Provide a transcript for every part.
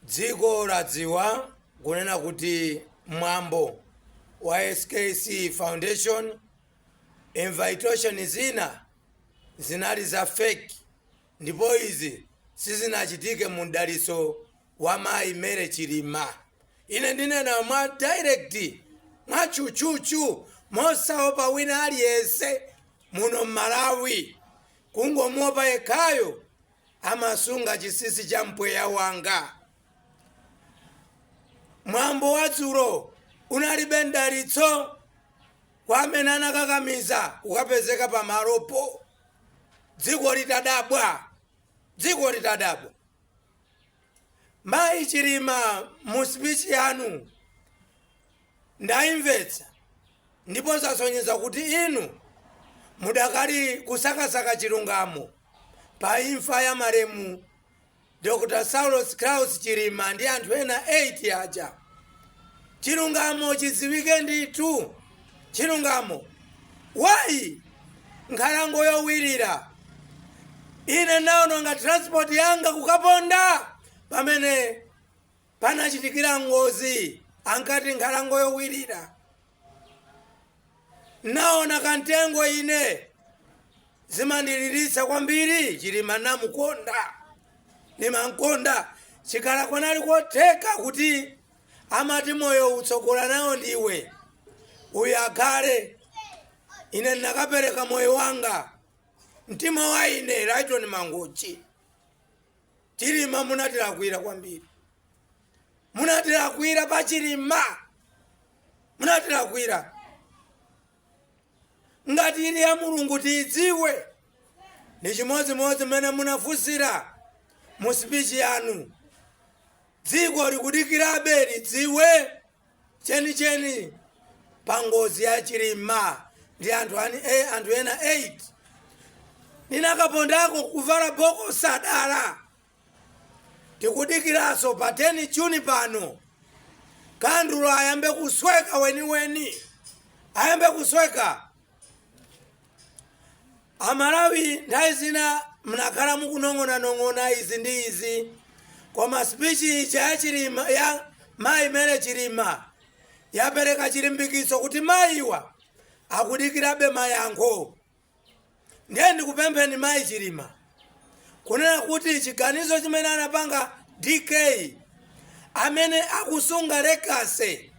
dziko ladziwa kunena kuti mwambo wa skc foundation invitation zina zinali za fake ndipo izi sizinachitike mu mdalitso wa mayi Mary Chilima ine ndinena mwa direct mwa chuchuchu mosaopa wina aliyense muno mmalawi kungomuopa yekhayo amasunga chinsinsi cha mpweya wanga mwambo wa dzulo unalibe mdalitso kwa amene anakakamiza kukapezeka pamalopo dziko litadabwa dziko litadabwa mayi chilima mu speech yanu Ndaimvetsa ndipo zasonyeza kuti inu mudakali kusakasaka chilungamo pa imfa ya malemu Dr Saulos Klaus Chilima ndi anthu ena 8 aja. Chilungamo chidziwike ndithu. Chilungamo. Wayi, nkhalango yowirira. Ine ndaononga transport yanga kukaponda pamene panachitikira ngozi ankati nkhalango yowirira naona kantengo ine zimandiliritsa kwambiri chilima ndamukonda ndimamkonda chikhala kunali kotheka kuti amati moyo utsogola nawo ndiwe uyu akhale ine ndinakapereka moyo wanga mtima wa ine Lytton Mangochi chilima munatilakwira kwambiri munatilakwira pa chilima munatilakwira ngati ili ya mulungu tiidziwe ndi chimodzimodzi mmene munafunsira mu sipichi yanu dziko likudikirabe lidziwe chenicheni pa ngozi ya chilima ndi anthu ena 8 ndinakapondako kuvala boko sadala tikudikiranso pa 10 juni pano kandulo ayambe kusweka weniweni ayambe kusweka Amalawi nthawi zina mnakhala mukunong'onanong'ona izi ndi izi koma speech ija ya chilima ya mayi Mary chilima yapereka chilimbikitso kuti mayiwa akudikirabe mayankho ndiye ndikupempheni mayi chilima kunena kuti chiganizo chimene anapanga dk amene akusunga legacy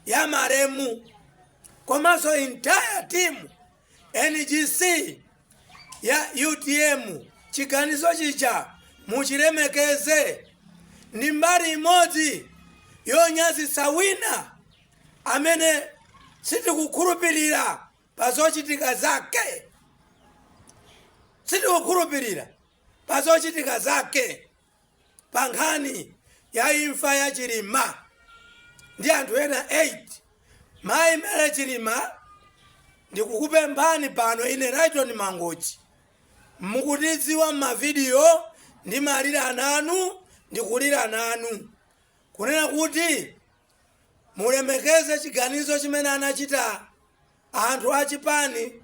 ya malemu komanso entire team NGC ya utm chiganizo chija muchilemekeze ndi mbali imodzi yonyazitsa wina amene sitikukhulupirira pa zochitika zake sitikukhulupirira pa zochitika zake pa nkhani ya imfa ya chilima ndi anthu ena 8 mayi mary chilima ndikukupemphani pano ine rayton mangochi mukutidziwa m'mavidiyo ndimalira nanu ndikulira nanu kunena kuti mulemekeze chiganizo chimene anachita anthu a chipani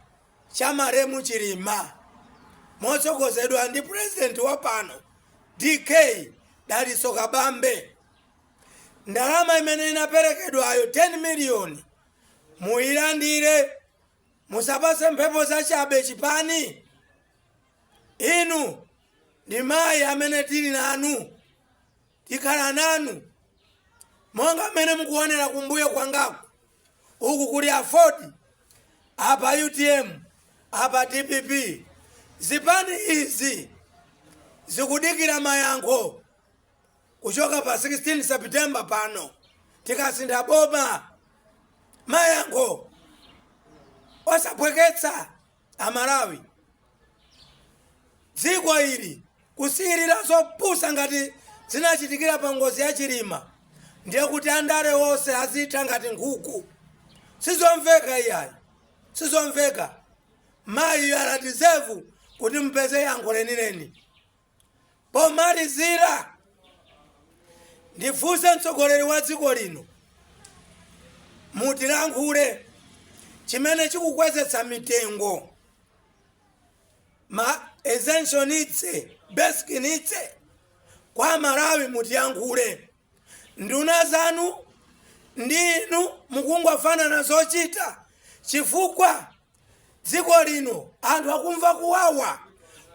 cha malemu chilima motsogozedwa ndi purezidenti wa pano dk dalitso kabambe ndalama imene inaperekedwayo 10 miliyoni muyilandire musapatse mphepo zachabe chipani inu ndi mayi amene tili nanu tikhala nanu monga mmene mukuonera kumbuyo kwangaku uku kuli afford apa utm apa dpp zipani izi zikudikira mayankho kuchoka pa 16 septemba pano tikasintha boma mayankho osaphweketsa Amalawi dziko ili kusiyilira zopusa ngati zinachitikira pa ngozi ya chilima ndiye kuti andale onse azitha ngati nkhuku sizomveka iyayi sizomveka mayi you deserve kuti mupeze yankho lenileni Pomalizira, ndifunse mtsogoleri wa dziko lino mutilankhule chimene chikukwezetsa mitengo ma essential needs basic needs kwa malawi mutiyankhule nduna zanu ndi inu mukungofanana zochita chifukwa dziko lino anthu akumva kuwawa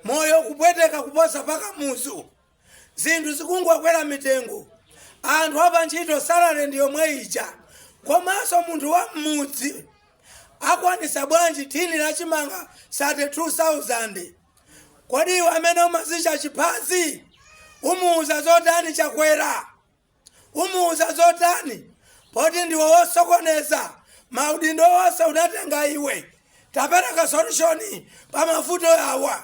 moyo kupweteka kuposa pa kamuzu zinthu zikungokwera mitengo anthu apa ntchito salale ndi yomwe ija komanso munthu wa mmudzi akwanisa bwanji thini la chimanga 32000 kodi iwe amene umazicha chiphazi umuuza zotani chakwera umuuza zotani poti ndiwe wosokoneza maudindo wonse unatenga iwe tapereka solution pa mavuto yawa